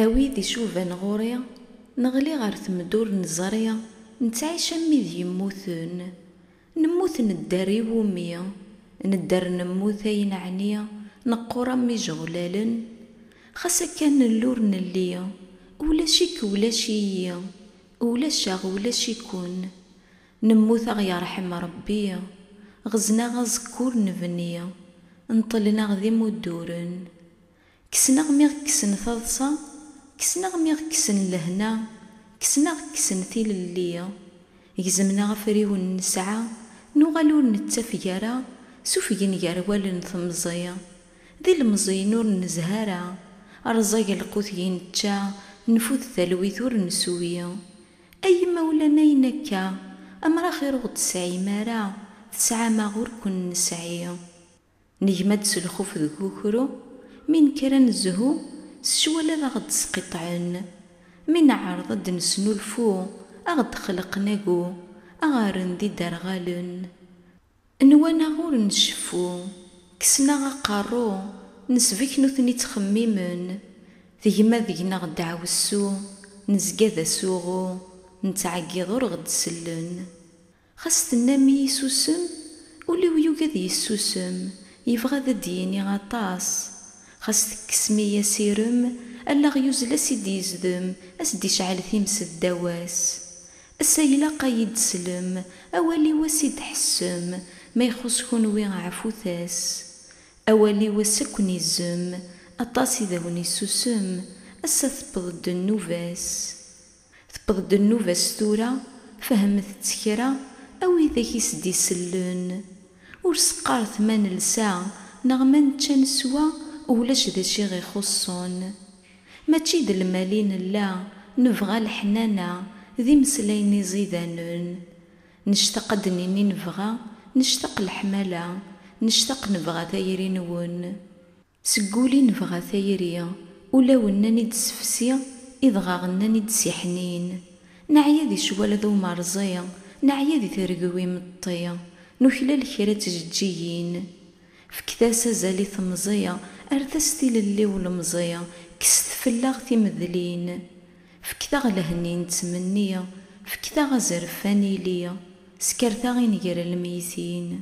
A wid icuban ɣur-i, neɣli ɣer temda ur neẓri, nettɛic am wid yemmuten, nemmut nedder i wumi? Nedder nemmut ay neɛni neqqur am yijeɣlalen? Xas akka nelli ur nelli, ulac-ik ulac-iyi, ulac-aɣ ulac-iken, nemmut a ɣ-yerḥem Rebbi, ɣzen-aɣ aẓekkur nebni, neṭṭlen-aɣ d imudduren, Kksen-aɣ mi ɣ-kksen taḍsa, kksen-aɣ mi ɣ-kksen lehna, kksen-aɣ kksen tilelli. Gezmen-aɣ afriwen nesɛa, nuɣal ur nettafeg ara, sufgen gar wallen temẓi. D ilemẓiyen ur nezha ara, rẓag lqut gi nečča, nfud talwit ur nsuwi. Ay imawlan ayen akka, amer axir ur ɣ-d-tesɛim ara, tesɛam-aɣ ur ken-nesɛi. Negma-d s lxuf deg ukru, mi nekker ad nezhu, s ccwal ad aɣ-d-sqiṭṭɛen. Mi neɛreḍ ad d-nesnulfu, a ɣ-d-xleqen agu, a ɣ-rren d iderɣalen. Nwan-aɣ ur nceffu, kksen-aɣ aqerru, nesbek nutni ttxemmimen. Tegma deg-neɣ deɛwessu, nezga d asuɣu, nettɛeggiḍ ur ɣ-d-sellen. Xas tennam-iyi susem, ul-iw yugi ad yessusem, yebɣa ad d-yini aṭas. Xas tekkesem-iyi asirem, allaɣ yuzzel a s-id-yezdem, a s-d-icɛel times ddaw-as. Ass-a ilaq a yi-d-teslem, awal-iw a s-id-tḥessem, ma ixuṣ kunwi ɛfut-as. Awal-iw ass a ken-izzem, aṭas i d awen-issusem, ass-a tewweḍ-d nnuba-s. Tewweḍ-d nnuba-s tura, fehmet-tt kra, a widak i s-d-isellen. Ur s-qqaret ma nelsa neɣ ma nečča neswa, ulac d acu i ɣ-ixuṣṣen. Mačči d lmal i nella, nebɣa leḥnana, d imeslayen iẓidanen. Nectaq ad d-nini nebɣa, nectaq leḥmala, nectaq nebɣa tayri-nwen. Seg wul i nebɣa tayri. Ulaw nnan i d-sefsi, idɣaɣ nnan i d-siḥnin. Neɛya di ccwal d umerẓi, neɛya di tergwi imeṭṭi. Nuklal kra ttjeǧǧigin. Fket-as azal i temẓi, rret-as tilelli ulemẓi, kkset fell-aɣ timedlin. Fket-aɣ lehna i nettmenni, fket-aɣ azref ad nili, skertaɣ i nger lmeytin.